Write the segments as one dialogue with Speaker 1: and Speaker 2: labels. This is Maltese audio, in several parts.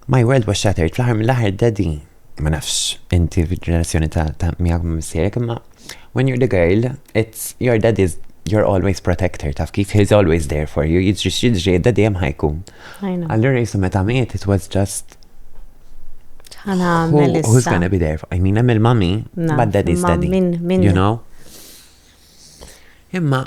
Speaker 1: My world was shattered, fl-aħħar mill-aħħar daddy, ma nafx inti fil-relazzjoni ta' miegħek ma' missierek, imma when you're the girl, it's your daddy's you're always protector, taf kif he's always there for you, jiġri x'jiġri daddy hemm ħajkun. Allura jisu meta miet it was just who, who's gonna be there for? I mean, hemm il-mami, but daddy's daddy. You know? Imma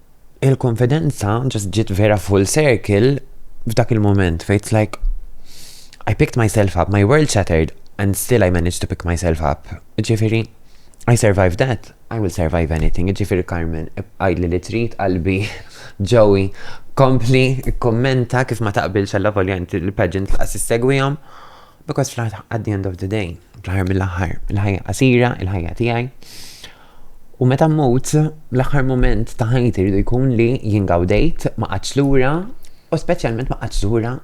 Speaker 1: il-konfidenza ġast ġiet vera full circle f'dak il-moment fejn it's like I picked myself up, my world shattered and still I managed to pick myself up. Ġifieri, I survived that, I will survive anything. Ġifieri Carmen, għidli li trid qalbi Joey kompli kommenta kif ma taqbilx għalla volja inti l-pageant laqas issegwihom. Because fl-aħħar at the end of the day, fl-aħħar mill-aħħar, il-ħajja qasira, il-ħajja tiegħi. U meta mmut, l-aħħar mument ta' ħajti rridu jkun li jien gawdejt, ma qatx lura, u speċjalment ma qatx lura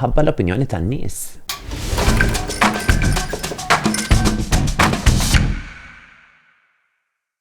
Speaker 1: ħabba l-opinjoni tan-nies.